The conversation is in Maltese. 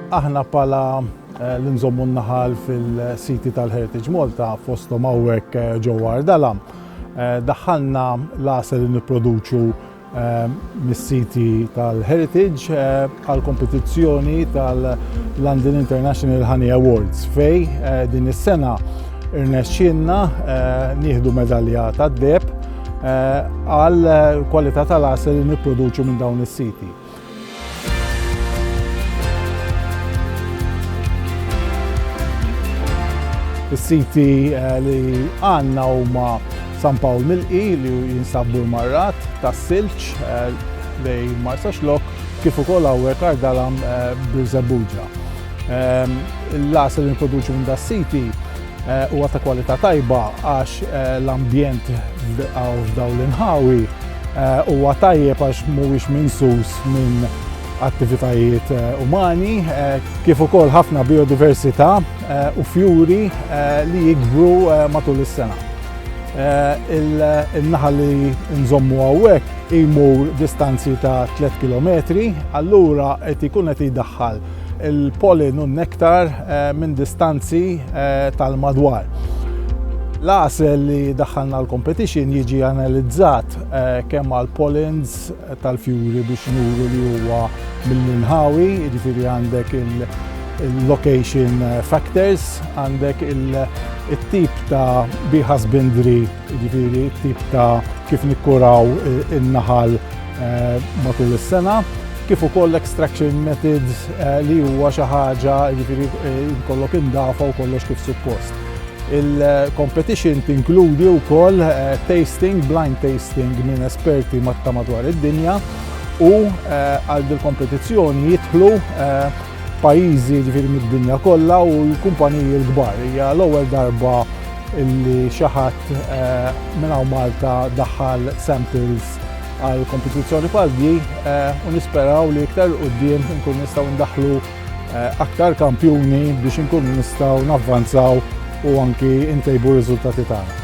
Aħna bħala eh, li nżommu n-naħal fil-siti tal-Heritage Malta fostom hawnhekk eh, ġewwa Ardalam. Eh, daħħalna l-għasel li nipproduċu mis-siti tal-Heritage għal kompetizzjoni tal-London International Honey Awards fej din is-sena irnexxinna nieħdu medalja tad-deb għal kwalità tal-għasel li nipproduċu minn dawn is-siti. Is-siti li għandna huma San Pawl Milqi li jinsabu l-marrat tas-silġ lejn Marsaxlokk kif ukoll hawnhekk Ardalan Birżebbuġa. L-għasel li nipproduċu minn das-siti Huwa ta' kwalità tajba għax l-ambjent f'dawn l-inħawi huwa tajjeb għax mhuwiex minsus minn attivitajiet umani, kif ukoll ħafna bijodiversità u fjuri li jikbru matul is-sena. In-naħal li nżommu hawnhekk imur distanzi ta' tliet kilometri, allura qed ikun qed jdaħħal il-pollen u n-nektar minn distanzi tal-madwar. L-għasel li daħħalna l-competition jiġi analizzat kemm għal pollens tal-fjuri biex nuru li huwa mill-inħawi, jiġifieri għandek il-location factors, għandek it-tip ta' bee husbandry, Jiġifieri t-tip ta' kif nikkuraw in-naħal matul is-sena, kif ukoll l-extraction methods li huwa xi ħaġa jiġifieri jkollok indafa u kollox kif suppost. Il-competition tinkludi wkoll tasting, blind tasting minn esperti ta' madwar id-dinja u għal dil-kompetizzjoni jidħlu pajjiżi jiġifieri mid-dinja kollha u l-kumpaniji l-kbar. Hija l-ewwel darba illi xi ħadd minn hawn Malta daħħal samples għal kompetizzjoni bħal di eh, u nisperaw li iktar qudiem nkun nistgħu ndaħlu eh, aktar kampjuni biex nkun nistgħu navvanzaw u anki ntejbu riżultati tagħna.